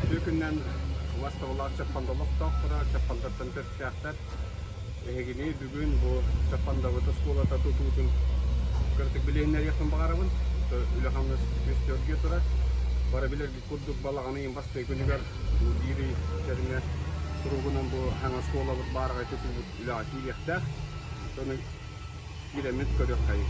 Үтүө күнүнэн уостабылаах Чаппанда олохтоохторо, Чаппандаттан төрүттээхтэр. Эһигини бүгүн бу Чаппандабыт оскуолата тутуутун кыратык билиһиннэриэхпин баҕарабын. Үлэ-хамнас үөскөөргө турар. Бары билэргит курдук балаҕан ыйын бастакы күнүгэр бу биир ый кэриҥэ туругунан бу саҥа оскуолабыт баараҕай тутуубут үлэҕэ киириэхтээх. Ону киирэммит көрүөххэйиҥ.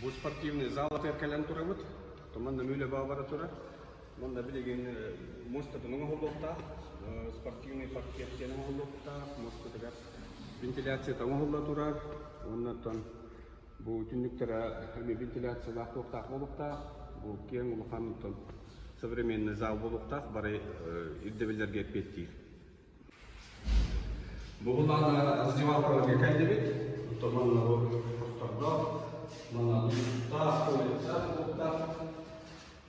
Бу спортивный зал атыгар кэлэн турабыт. Томан нөмүү лөбө бара турар. Манна билигин муостатын оҥоһуллуохтаах, спортивный паркет диэн оҥоһуллуохтаах. Муостатыгар вентиляцията оҥоһулла турар. Оннуттан бу түннүктэрэ эмиэ вентиляциялаах туохтаах буолуохтаах. Бу киэҥ улахантан современный зал буолуохтаах, бары ирдэбиллэргэ эппиэттиир. Бугулаана раздевалкаларга кэлдибит. Оттон манна бу хостордоох, манна тутта, улица, туттта.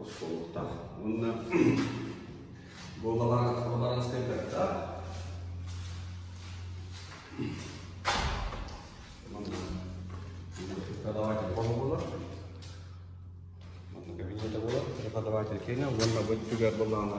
оскуолаттаах уонна боларанскай баттаа преподаватель хоһу болар манна кабинета болар преподаватель киэнэ уонна бу өттүгэр былаана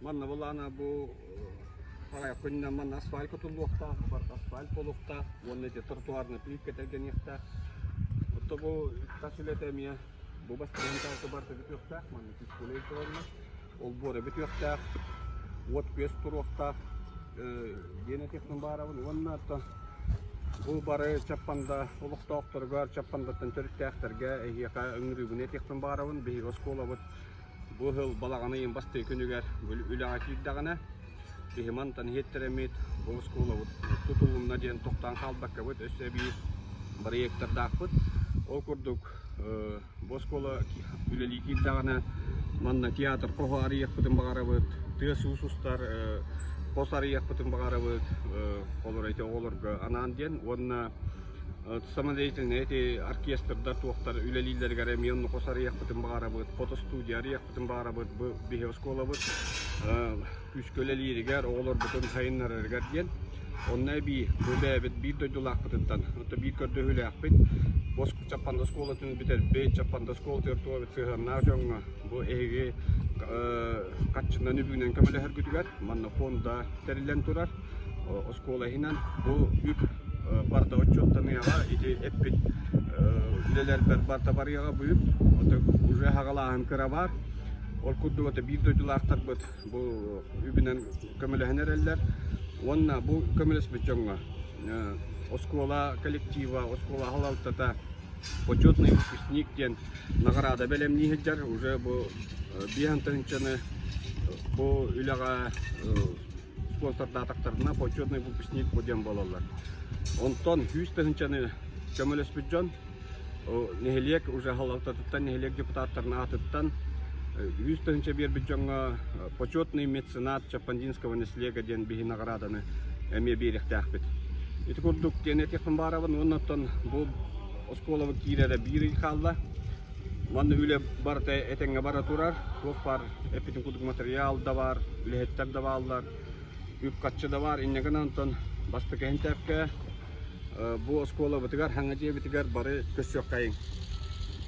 Манна былаана бу Харайкунна манна асфальт кутуллуохтаах, бар асфальт болуохтаах уонна эти тротуарный плитка тэлгэниэхтээх. Отто бу тас үлэтэ эмиэ бу бастыгын таата барта бүтүөхтээх, манна физкулей туралла. Олбуора бүтүөхтээх, уот күөс туруохтаах, диэне технон баарабын уонна аттан бу бары чаппанда олохтоохторугар чаппандаттан төрүттээхтэргэ эһиэхэ өҥүрүүбүнэ технон баарабын, биһиги оскуолабыт Бу сыл балаҕан ыйын бастакы күнүгэр үлэҕэ киирдэҕинэ, киһи мантан иһиттэрэммит бу оскуолабыт тутулунна диэн тохтоон хаалбаккабыт, өссө эбии проектардаахпыт. Ол курдук бу оскуола үлэлии киирдэҕинэ, манна театр хос арыйыахпытын баҕарабыт, тыас уус устар хос арыйыахпытын баҕарабыт, холоро ити оҕолорго анаан диэн уонна Самодеятельнай эти оркестрдар туохтар үлэлииллэригэр эмиэ оннук арыйахпытын баҕарабыт, фотостудия арыйахпытын баҕарабыт, бу биһи оскуолабыт күүскэ үлэлииригэр, оҕолорбутун сайыннарарыгар диэн. Онно эбии бу бэйэбит биир дойдулаахпытыттан, отто биир көрдөһүүлээхпит бос Чаппанда оскуолатын бүтэрбит, Чаппанда оскуолатыгар туолбут сыһыаннаах дьоҥҥо бу эһиги хаччынан үбүнэн көмөлөһөргүтүгэр манна фонда тэриллэн турар. оскуола иһинэн бу үп барда отчуоттаныаҕа ити эппит үлэлэрбэр барта барыаҕа бу үп уже хагалааһын кыра баар ол курдук ото биир дойдулаахтарбыт бу үбүнэн көмөлөһөн эрэллэр уонна бу көмөлөспүт дьоҥҥо оскуола коллектива оскуола халалтата почетный выпускник диэн наҕараада бэлэмнии сылдьар уже бу биэһ тыһынчаны бу үлэҕэ уолтардаатахтарына почетный выпускник бу диэн буолаллар. Онтон сүүс тыһынчаны көмөлөспүт дьон нэһилиэк уже халалтатыттан нэһилиэк депутаттарын аатыттан үс тыһынча биэрбит дьоҥҥо почетный меценат Чапандинского наслега диэн биһи наҕарааданы эмиэ биэриэхтээхпит. Ити курдук диэн этиэхпин баарабын уонна оттон бу оскуолаба киирэрэ биир ый хаалла. Манна үлэ барыта этэҥҥэ бара турар. Туох баар эппитим курдук материал да баар, үлэһиттэр да бааллар, үп-харчы да баар. Инньэ гынан онтон бастакы хинтээпкэ бу оскуолабытыгар, Хаҥа дьиэбитигэр бары көссүөххэйиҥ.